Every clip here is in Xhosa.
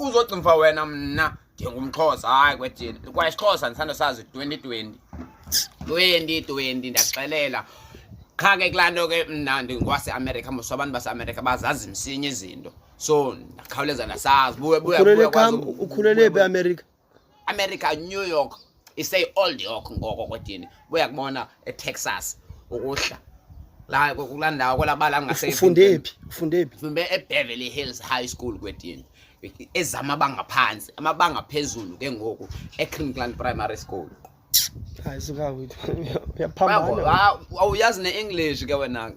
uzogcimfa wena mna ndingumxhosa hayi kwedini kwayisixhosa ndisanda sazi 2020 2020 ndaxelela qha ke kulaa nto ke mna ndingwaseamerica mos abantu baseamerica bazazi msinya izinto so ndakhawuleza ndasazi buye buye buye kwazi ukhulele phi eamerica America New York isay old York ngoko kodini buya kubona eTexas ukuhla la kula ndawo kwelabala ngase ufunde phi ufunde phi ufunde eBeverly Hills High School kwedini ezama banga phansi amabanga phezulu ke ngoku eClinkland Primary School hayi suka wethu uyaphambana awuyazi ne-english ke wena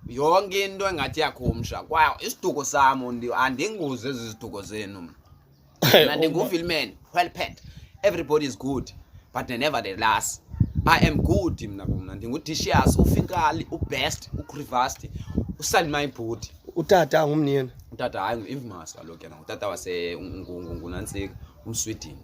yonke into engathi yakhumsha kwaye isiduko sam andinguzi ezi ziduko zenu mna ndingufilman well pet everybody is good but never the last i am good mna kumna ndingudishias ufinkali ubest ucrivast usalmay bhuti utata ngumniyena utata hayi ngu-imvmas kaloku yena ngutata wasengunantsika umswidini